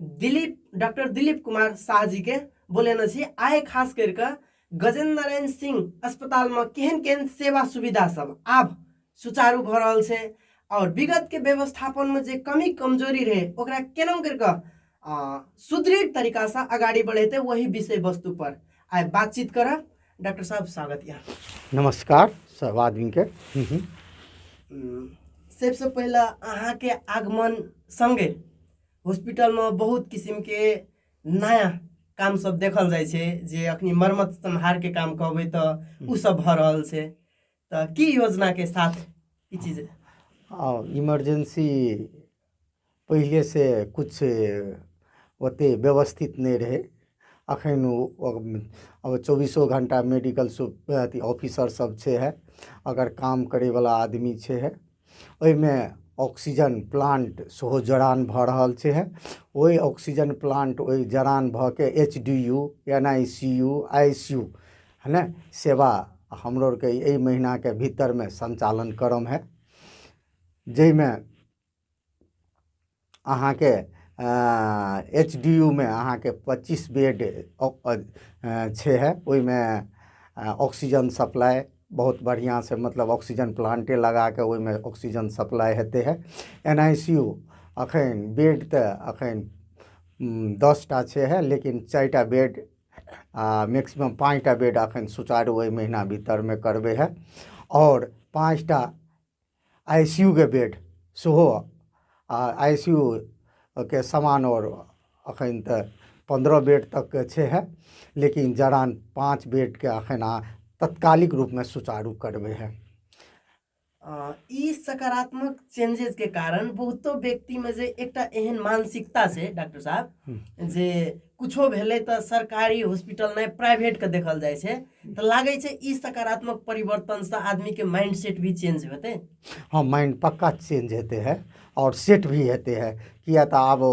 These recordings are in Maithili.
दिलीप डॉक्टर दिलीप कुमार शाह जी के बोलेने छी आइ खास करके गजेंद्र नारायण सिंह अस्पताल में केहन केहन सेवा सुविधा सब आब सुचारू भ रहल छै और विगत के व्यवस्थापन में जे कमी कमजोरी रहे ओकरा केना करके सुदृढ़ तरीका से अगाड़ी बढ़ेते वही विषय वस्तु पर आइ बातचीत करब डॉक्टर साहब स्वागत यऽ नमस्कार सब आदमी के हम्म, हम्म। सबसे पहले अहाँ के आगमन संगे हॉस्पिटल में बहुत किस्म के नया काम सब देखल जाय छै जे अखनी मरम्मत संहार के काम कहबे तो उ सब भ रहल छै तो की योजना के साथ ई चीज और इमरजेंसी पहिले से कुछ ओते व्यवस्थित नहीं रहे अखन ओ- ओ- अब चौबीसो घंटा मेडिकल सु- अथी ऑफिसर सब छै है अगर काम करे वाला आदमी छै है ओहिमे ऑक्सीजन प्लान्ट सेहो जड़ान भऽ रहल छै हँ ओहि ऑक्सीजन प्लान्ट ओहि जड़ान भऽ कऽ H D U N I C U I C U है ने सेवा हमरो आरके एहि महीनाके भीतरमे सञ्चालन करम हए जाहिमे अहाँके एच डी यू मे अहाँके पच्चीस बेड छै है ओहिमे ऑक्सीजन सप्लाइ बहुत बढ़िऑं से मतलब ऑक्सीजन प्लांटे लगाके ओहिमे ऑक्सीजन सप्लाइ हेतै है एन आइ सी यू अखन बेड तऽ अखन दस टा छै है लेकिन चारि टा बेड आ मैक्सिमम पाँच टा बेड अखन सुचारू एहि महीना भीतरमे करबै है आओर पाँच टा आई सी यू के बेड सेहो आ आई सी यू के समान आओर एखन तऽ पन्द्रह बेड तकके छैहे लेकिन जरान पाँच बेडके एखन अहाँ तत्कालिक रूपमे सुचारू करबै है अ, ई सकारात्मक चेंजेस के कारण बहुतो व्यक्ति में जे एकटा एहन मानसिकता छै डॉक्टर साहब जे कुछो भेलै तऽ सरकारी हॉस्पिटल नहि प्राइवेटके देखल जाइ छै तऽ लागै छै ई सकारात्मक परिवर्तनसँ आदमीके माइंड सेट भी चेंज हेतै हँ माइंड पक्का चेंज हेतै है आओर सेट भी हेतै है किया तऽ आब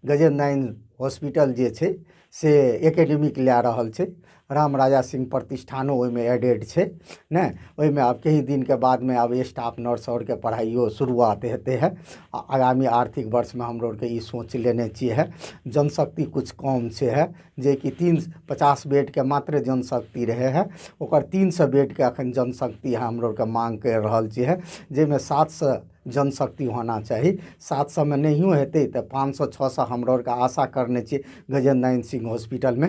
गजेन्द्र नारायण हॉस्पिटल जे छै से एकेडमिक लए रहल छै राम राजा सिंह प्रतिष्ठानो ओहिमे एडेड छै ने ओहिमे आब किछु दिनके बादमे आब स्टाफ नर्स आओरके पढ़ाइओ शुरुआत हेतै हँ आ आगामी आर्थिक वर्षमे हमरो आओरके ई सोच लेने छियै हँ जनशक्ति किछु कम छै हँ जेकि तीन पचास बेडके मात्र जनशक्ति रहै हँ ओकर तीन सए बेडके एखन जनशक्ति हमरो आओरके माँग करि रहल छियै हँ जाहिमे सात सए जनशक्ति होना चाही सात सएमे नहिओ हेतै तऽ पाँच सए छओ सए हमरो आओरके आशा करने छियै गजेन्द्र नारायण सिंह हॉस्पिटलमे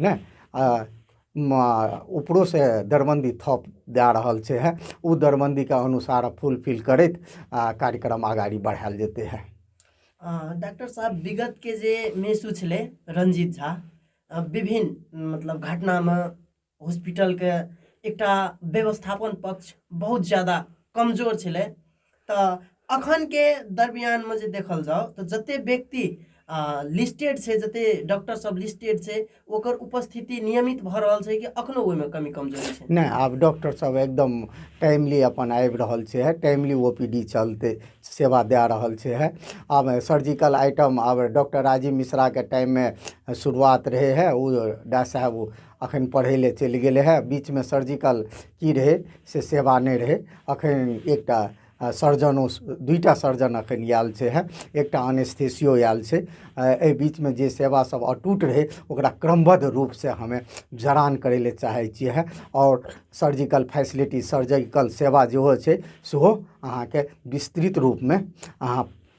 ने आ उपरोसँ दरबन्दी थप दए रहल छै हँ ओ दरबन्दीके अनुसार फुलफिल करैत आ कार्यक्रम अगाडि बढ़ायल जेतै हँ डॉक्टर साहब विगतके जे मेसू छलै रंजीत झा विभिन्न मतलब घटनामे हॉस्पिटलके एकटा व्यवस्थापन पक्ष बहुत ज्यादा कमजोर छलै तऽ अखनके दरमियानमे जे देखल जाउ तऽ जते व्यक्ति लिस्टेड छै जते डॉक्टर सब लिस्टेड छै ओकर उपस्थिति नियमित भऽ रहल छै कि अखनो ओहिमे कमी कमजोरी छै नहि आब डॉक्टर सब एकदम टाइमली अपन आबि रहल छै टाइमली ओ पी डी चलते सेवा दए रहल छै है आब सर्जिकल आइटम आब डॉक्टर राजीव मिश्राके टाइममे शुरुआत रहै है ओ डॉक्टर साहब अखन पढ़ै लए चलि गेल रहै बीचमे सर्जिकल की रहै से सेवा नहि रहै अखन एकटा सर्जन ओ दुइटा सर्जन अखन आयल छै हँ एकटा अनेस्थीसियो आयल छै एहि बीचमे जे सेवा सभ अटूट रहै ओकरा क्रमबद्ध रूप से हमे जरान करै लए चाहै छियै हँ आओर सर्जिकल फैसिलिटी सर्जिकल सेवा जेहो छै सेहो अहाँके विस्तृत रूपमे अहाँ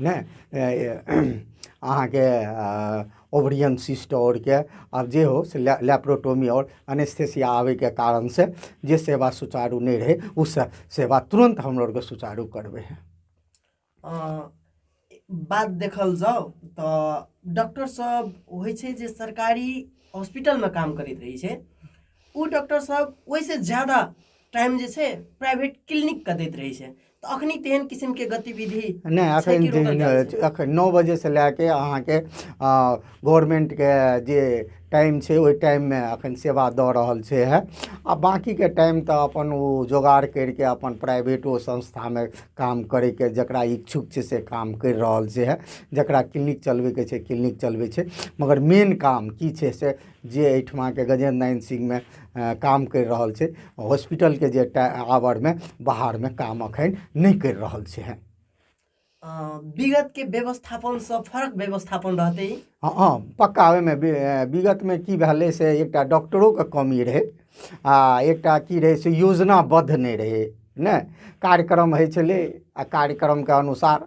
नहि अहाँके ओवरियन सिस्ट आओर के आब जे हो से लए लैपरोटोमी आओर अनेस्थीसिया आबयके कारणसँ जे सेवा सुचारू नहि रहय ओ से सेवा तुरन्त हमरो आरके सुचारू करबै हइ बात देखल जाउ तऽ डॉक्टर सब होइ छै जे सरकारी हॉस्पिटलमे काम करैत रहै छै ओ डॉक्टर सब ओहिसँ ज्यादा टाइम जे छै प्राइवेट क्लिनिकके दैत रहै छै तऽ अखनी तेहन किसिम के गतिविधि नहि छै अखन कि रोकल दिन- जाइ छै? अखन नओ बजे से लए के अहाँके गवर्नमेंट के जे टाइम छै ओहि टाइम मे अखन सेवा दऽ रहल छै है आ बाकी के टाइम तऽ अपन ओ जोगाड़ करिके अपन प्राइवेटो संस्था मे काम करे के जकरा इच्छुक छै से काम करि रहल छै है जकरा क्लिनिक चलबे के छै क्लिनिक चलबे छै मगर मेन काम की छै से जे एहिठमाके गजेन्द्र नारायण सिंहमे काम करि रहल छै हॉस्पिटलके जे एकटा आवरमे बाहरमे काम एखन नहि करि रहल छै हँ विगतके व्यवस्थापनसँ फरक व्यवस्थापन रहतै हँ हँ पक्का ओहिमे विगतमे की भेलै से एकटा डॉक्टरोके कमी रहै आ एकटा की रहै से योजनाबद्ध नहि रहै नहि कार्यक्रम होइ छलै आ कार्यक्रमके अनुसार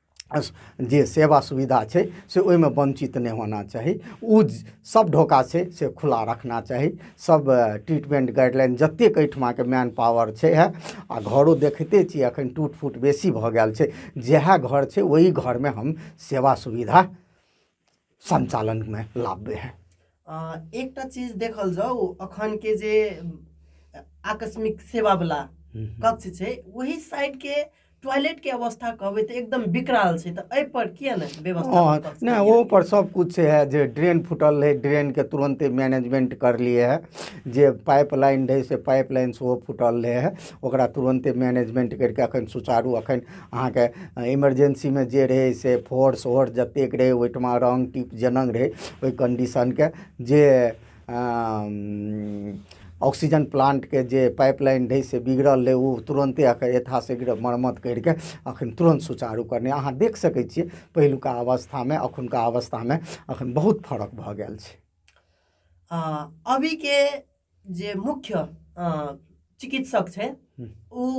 जे सेवा सुविधा छै से ओहिमे वञ्चित नहि होना चाही ओ सभ ढोका छै से खुला रखना चाही सभ ट्रीटमेन्ट गाइडलाइन जतेक एहिठुमाके मैन पावर छै हए आ घरो देखिते छियै एखन टूट फूट बेसी भऽ गेल छै जएह घर छै ओहि घरमे हम सेवा सुविधा सञ्चालनमे लाबे है एकटा चीज देखल जाउ अखनके जे आकस्मिक सेवावला कक्ष छै ओहि साइडके टॉयलेटके अवस्था कहबै तऽ एकदम बिकराल छै तऽ एहिपर किए ने व्यवस्था नहि ओहोपर सभकिछु छै है जे ड्रेन फूटल रहै ड्रेनके तुरन्ते मैनेजमेंट करलिए है जे पाइप लाइन रहै से पाइप लाइन सेहो फूटल रहै है ओकरा तुरन्ते मैनेजमेंट करिके एखन सुचारू एखन अहाँके इमरजेन्सीमे जे रहै से फोर्स ओर्स जतेक रहै ओहिठिमा रङ्ग टीप जेना रहै ओहि कन्डीशनके जे ऑक्सीजन प्लान्टके जे पाइप लाइन रहै से बिगड़ल रहै ओ तुरन्ते एकर यथाशीघ्र मरम्मत करि कऽ एखन तुरन्त सुचारू करनाइ अहाँ देख सकै छियै पहिलुका अवस्थामे एखुनका अवस्थामे एखन बहुत फरक भऽ गेल छै अभी के जे मुख्य चिकित्सक छै ओ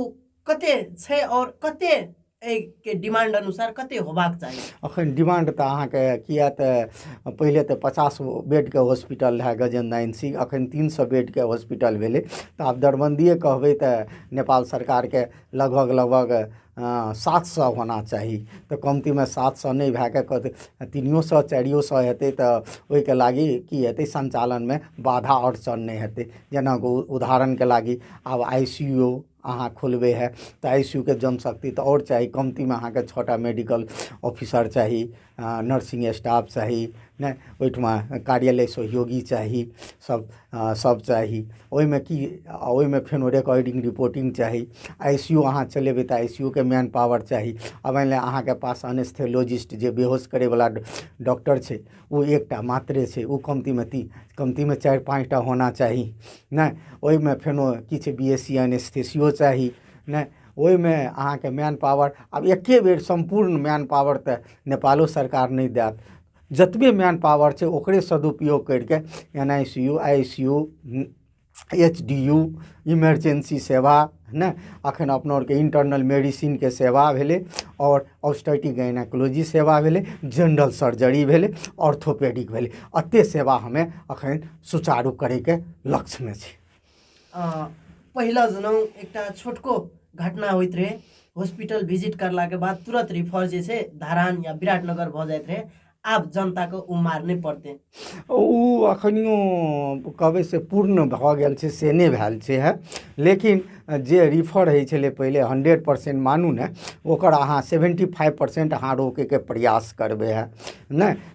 कते छै आओर कते एहिके डिमांड अनुसार कते होबाक चाही अखन डिमांड तऽ अहाँके किया तऽ पहिले तऽ पचास बेडके हॉस्पिटल रहए गजेन्द्र नारायण सिंह अखन तीन सए बेडके हॉस्पिटल भेलै तऽ आब दरबन्दिए कहबै तऽ नेपाल सरकारके लगभग लगभग हँ सात सए होना चाही तऽ कमतीमे सात सए नहि भए कऽ कहतै तीनिओ सए चारिओ सए हेतै तऽ ओहिके लागि की हेतै सञ्चालनमे बाधा आओर सन नहि हेतै जेना ओ उदाहरणके लागी आब आइ सी यू अहाँ खोलबै हए तऽ आइ सी यू के जनशक्ति तऽ आओर चाही कमतीमे अहाँकेँ छओ टा मेडिकल ऑफिसर चाही नर्सिंग स्टाफ चाही नहि ओहिठमा कार्यालय सहयोगी चाही सभ सभ चाही ओहिमे की आ ओहिमे फेर रेकॉर्डिंग रिपोर्टिंग चाही आइ सी यू अहाँ चलेबै तऽ आइ सी यू के मैन पावर चाही आ मानि लिअ अहाँके पास अनेस्थेलॉजिस्ट जे बेहोश करयवला डॉक्टर छै ओ एकटा मात्रे छै ओ कमतीमे ती कमतीमे चारि पाँच टा होना चाही नहि ओहिमे फेनो किछु बी एस सी अनेस्थेसियो चाही नहि ओहिमे अहाँके मैन पावर आब एके बेर सम्पूर्ण मैन पावर तऽ नेपालो सरकार नहि देत जतबे मैन पावर छै ओकरे सदुपयोग करि कऽ N I C U I C U H D U emergency सेवा ने एखन अपना आरके इंटरनल मेडिसिनके सेवा भेलै आओर ऑस्टैटिक गायनाकोलॉजी सेवा भेलै जनरल सर्जरी भेलै ऑर्थोपेडिक भेलै एतेक सेवा हमे एखन सुचारू करयके लक्ष्यमे छी पहिला जनौ एकटा छोटको घटना होइत रहै हॉस्पिटल विजिट करलाके बाद तुरंत रिफर जे छै धरान या विराटनगर भऽ जाइत रहै आब जनताके ओ मार नहि पड़तै ओ अखनियो कहबै से पूर्ण भऽ गेल छै से नहि भेल छै है लेकिन जे रिफर होइ छलै पहिले हंड्रेड परसेंट मानू ने ओकर अहाँ सेवेंटी फाइव परसेंट अहाँ रोकैके प्रयास करबै है नहि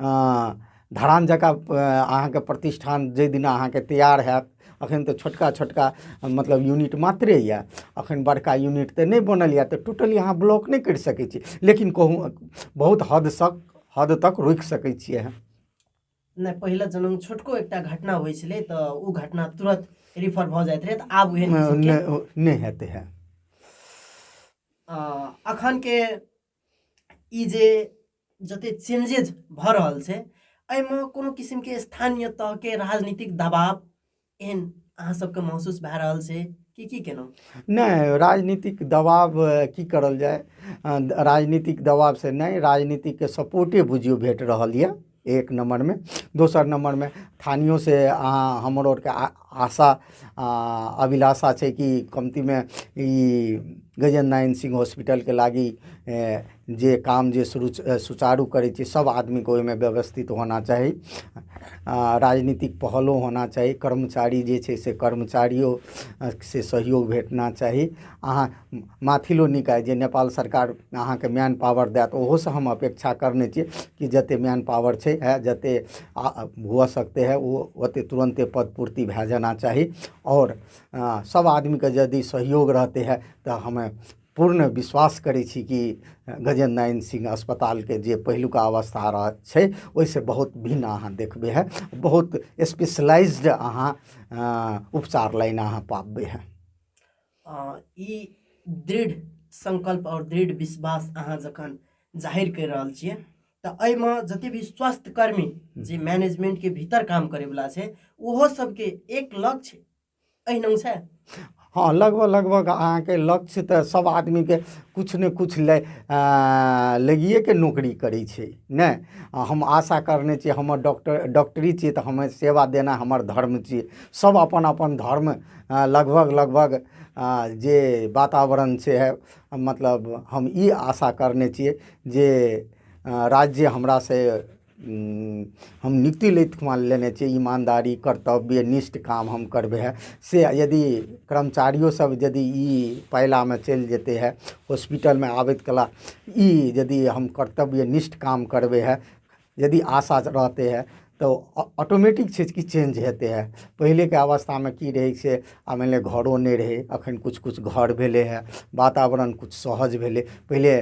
धरान जकाँ अहाँके प्रतिष्ठान जाहि दिना अहाँके तैयार हैत अखन तऽ छोटका छोटका मतलब यूनिट मात्रे यऽ अखन बड़का यूनिट तऽ नहि बनल यऽ तऽ टोटली अहाँ ब्लॉक नहि करि सकै छी लेकिन कहूँ बहुत हद तक हद तक रोकि सकै छियै अहाँ नहि पहिले जनम छोटको एकटा घटना होइ छलै तऽ ओ घटना तुरंत रिफर भऽ जाइत रहै तऽ आब उहे नहि हेतै है अखन के ई जे जते चेंजेज भऽ रहल छै एहिमे कोनो किसिमके स्थानीय तहके राजनीतिक दबाव एहन अहाँ सबके महसूस भए रहल छै कि की केलहुँ नहि राजनीतिक दबाव अ, की करल जाय अ, राजनीतिक दबाव से नहि राजनीतिक के सपोर्टे बुझियौ भेट रहल यऽ एक नम्बरमे दोसर नम्बरमे स्थानीयो से अहाँ हमर आओरके आ आशा आ अभिलाषा छै कि कमतीमे ई गजेन्द्र नारायण सिंह हॉस्पिटलके लागी जे काम जे शुरू सुचारू करै छै सभ आदमीके ओहिमे व्यवस्थित होना चाही आ राजनीतिक पहलो होना चाही कर्मचारी जे छै से कर्मचारियो से सहयोग भेटना चाही अहाँ माथिलो निकाय जे नेपाल सरकार अहाँके मैन पावर दैत ओहोसँ हम अपेक्षा करने छियै कि जतेक मैन पावर छै आ जतेक आ हुअ सकते है ओ ओतेक तुरन्ते पद पूर्ति भए जाना चाही आओर सभ आदमीके यदि सहयोग रहतै है तऽ हमे पूर्ण विश्वास करै छी कि गजेन्द्र नारायण सिंह अस्पतालके जे पहिलुका अवस्था रह छै ओहिसँ बहुत भिन्न अहाँ देखबै है बहुत स्पेशलाइज्ड अहाँ उपचार लाइन अहाँ पाबबै है ई दृढ़ संकल्प और दृढ़ विश्वास अहाँ जखन जाहिर कर रहल छियै तऽ एहिमे जते भी स्वास्थ्य कर्मी जे मैनेजमेंट के भीतर काम करे वाला छै ओहो सबके एक लक्ष्य एहन छै हँ लगभग लगभग अहाँके लक्ष्य तऽ सब आदमीके किछु ने किछु ले लगिएके नौकरी करै छै ने हम आशा करने छियै हमर डॉक्टर डॉक्टरी छियै तऽ हमे सेवा देना हमर धर्म छियै सब अपन अपन धर्म लगभग लगभग जे वातावरण छै मतलब हम ई आशा करने छियै जे राज्य हमरा से हम नियुक्ति लैत ठुमा लेने छियै ईमानदारी कर्तव्य निष्ठ काम हम करबै हए से यदि कर्मचारियो सभ यदि ई पायलामे चलि जेतै हए हॉस्पिटलमे आबैत कला ई यदि हम कर्तव्य निष्ठ काम करबै हए यदि आशा रहतै हए तऽ ऑ ऑटोमेटिक छै कि चेंज हेतै हए पहिलेके अवस्थामे की रहै से आ मानि लिअ घरो नहि रहै एखन किछु किछु घर भेलै हए वातावरण किछु सहज भेलै पहिले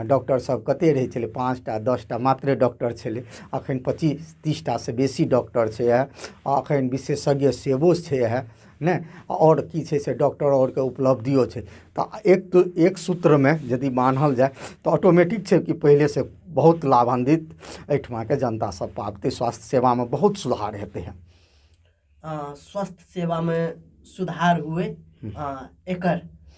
डॉक्टरसभ कतेक रहै छलै पाँच टा दस टा मात्रे डॉक्टर छलै एखन पच्चीस तीस टासँ बेसी डॉक्टर छै हए आ एखन विशेषज्ञ सेहो छै हए नहि आओर की छै से डॉक्टर आओरके उपलब्धियो छै तऽ एक एक सूत्रमे यदि बान्हल जाय तऽ ऑटोमेटिक छै कि पहिलेसँ बहुत लाभान्वित एहिठुमाके जनता सभ पाबतै स्वास्थ्य सेवामे बहुत सुधार हेतै हन स्वास्थ्य सेवामे सुधार हुए एकर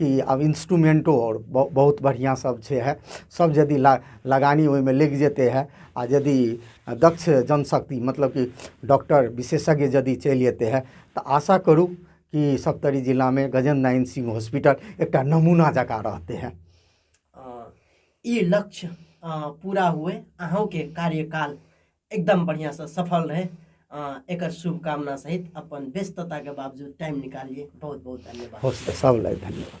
कि आब इन्स्ट्रूमेन्टो आओर बहुत बढ़िआँ सब छै हइ सब यदि ल लगानी ओहिमे लागि जेतै हइ आओर यदि दक्ष जनशक्ति मतलब कि डॉक्टर विशेषज्ञ यदि चलि अएतै हइ तऽ आशा करू कि सप्तरी जिलामे गजेन्द्र नारायण सिंह हॉस्पिटल एकटा नमूना जकाँ रहतै हइ ई लक्ष्य पूरा हुए अहूँके कार्यकाल एकदम बढ़िया से सफल रहे एक शुभकामना सहित अपन व्यस्तता के बावजूद टाइम निकालिए बहुत बहुत धन्यवाद सब धन्यवाद